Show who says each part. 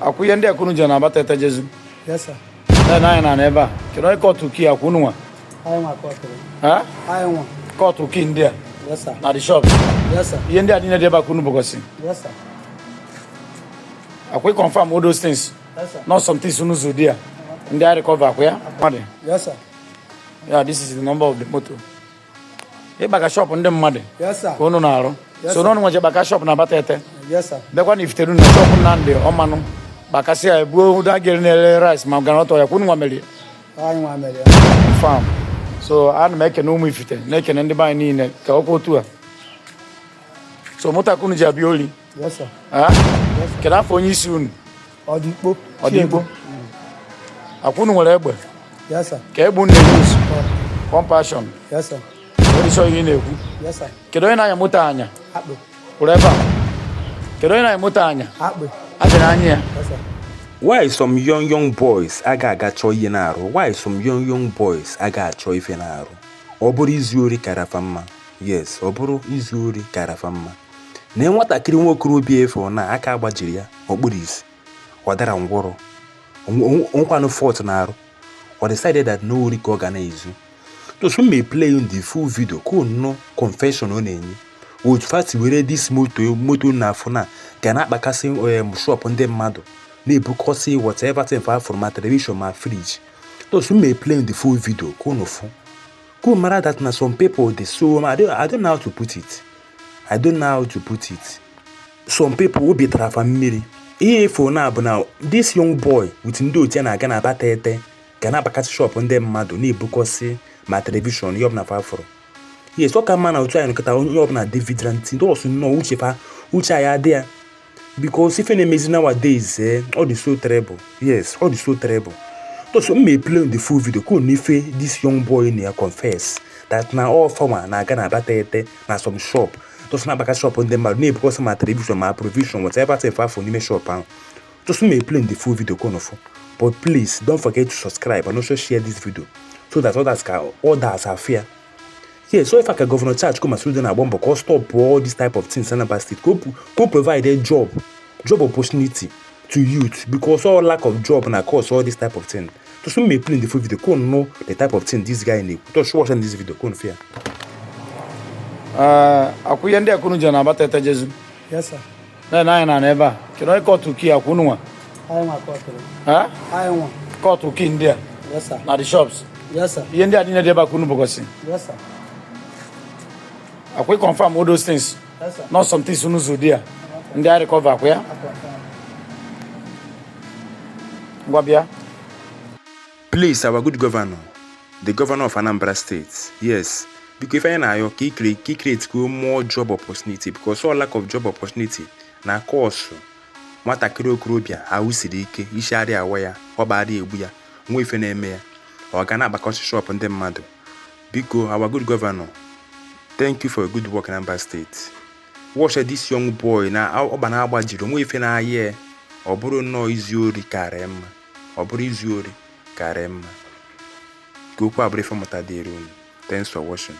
Speaker 1: akwa ihe ndị a ka unu je na Abatete
Speaker 2: je zuo na anyị na ebe
Speaker 1: a kedu onye kọtụ key a akwa unu nwa
Speaker 2: kọtụ key ndị a
Speaker 1: na the shop ihe ndị
Speaker 2: a niile dị ebe a ka
Speaker 1: unu
Speaker 2: bukọsị
Speaker 1: akwa ị confirm all those things not some things
Speaker 2: unu zu there
Speaker 1: ndị a recover akwa ya
Speaker 2: yeah this
Speaker 1: is the number of the motor ịgbaka shọpụ ndị mmadụ ka unu
Speaker 2: na-arụ
Speaker 1: so na unu nwa je gbaka shọpụ na Abatete bịakwa na
Speaker 2: Ifitedunu shọpụ
Speaker 1: Nnamdị Ọmanụ gbakasịa ya buo ụda gịrị na-ere rice ma groundnut oil akwa unu nwa mere
Speaker 2: ya
Speaker 1: fam so ana m ekene ụmụ ifite na-ekene ndị be anyị niile ka ọkwa otu a so moto a ka unu ji abịa oli
Speaker 2: kedu
Speaker 1: afa onye isi unu
Speaker 2: ọdịkpo
Speaker 1: ọdịkpo akwa unu nwere egbe
Speaker 2: kee egbe unu na-use
Speaker 1: pump
Speaker 2: action ị dị sure ihe ị na-ekwu
Speaker 1: kedu onye
Speaker 2: na-anya moto anya
Speaker 1: kwụrụ ebe
Speaker 2: a
Speaker 1: kedu onye na-anya moto anya adịrị
Speaker 2: anya ya why
Speaker 3: some young young boys aga aga chọọ ihe na-arụ why some young young boys aga achọ ife na-arụ ọ bụrụ izu ori kara fa mma yes ọ bụrụ izu ori kara fa mma na nwatakịrị nwa okorobịa ị fụ na aka agbajirọ ya o kpurọ isi ọ darọ ngwọrọ nkwanụ fọt na arụ ọ decided that na ọ ori ka ọ ga na-ezu just m ma play unu the full video ka unu nụ confession ọ na-enye otu fa si were this moto moto unu na-afụ na-aga na-agbakasị um, shop ndị mmadụ na-ebukọsị whatever thing fa fụrụ ma television ma fridge just m ma play unu the full video ka unu fụ ka unu mara that na some people dị so I don't, I don't know how to put it I don't know how to put it. Some people obi tara fa mmiri. Ihe ị fụ na bụ na this young boy with ndị otu ya na-aga na Abatete aga na-agbakasị shop ndị mmadụ na-ebukọsị ma telivishọn ihe ọbụla fa fụrụ. Yes, ọ ka mma na otu anyị nọ kịta onye ọbụla dị vigilant and also nnọọ uche fa uche anyị adị ya because ife na-emezi nowadays eh, ọ dị so terrible yes ọ dị so terrible so m ma play the full video ka unu nụ ife this young boy na ya confess that na ọ fa nwa na-aga na Abatete na some shop just na-agbaka shop ndị mmadụ na-ebukọsị ma television ma provision whatever thing fa fụ n'ime shop ahụ just m ma play the full video ka unu fụ but please don't forget to subscribe and also share this video so that others can others afụ ya yes so far ka gọvanọ Charles Chukwuma Soludo na-agba mbọ ka ọ stop all this type of things Anambra State ka o provide a job job opportunity to youth because all lack of job na cause all this type of thing to soon may play in the full video go know the type of thing this guy need to show us in this video go fear uh
Speaker 1: akwụya ndị akwụrụ ji na abata ete jezu yes sir
Speaker 2: na-ele anya na n'ebe
Speaker 1: a kedu onye kọtụ key a akwa unu
Speaker 2: nwa kọtụ key ndị a
Speaker 1: na the shops ihe ndị a
Speaker 2: niile dị ebe a ka
Speaker 1: unu bukọsị akwa ị confirm all those things not some
Speaker 2: things unu zu
Speaker 1: there ndị a recover akwa ya ngwa bịa
Speaker 3: Please our good governor, the governor of Anambra State, yes, biko ife anyị na-ayọ ka i createkwuo more job opportunity because all lack of job opportunity na-cause nwatakịrị okorobịa ahụ siri ike isi arịa awa ya ọ bụ arịa egbu ya nwee ife na-eme ya ọ ga na-agbakasị shop ndị mmadụ biko our good governor thank you for your good work in Anambra State watch this young boy na ọgba na-agba jiri nwee ife na-ayị ya ọ bụrụ nnọọ izu ori karịa mma ọ bụrụ izu ori karịa mma ka okwu a bụrụ ife mmụta dịrị unu thanks for watching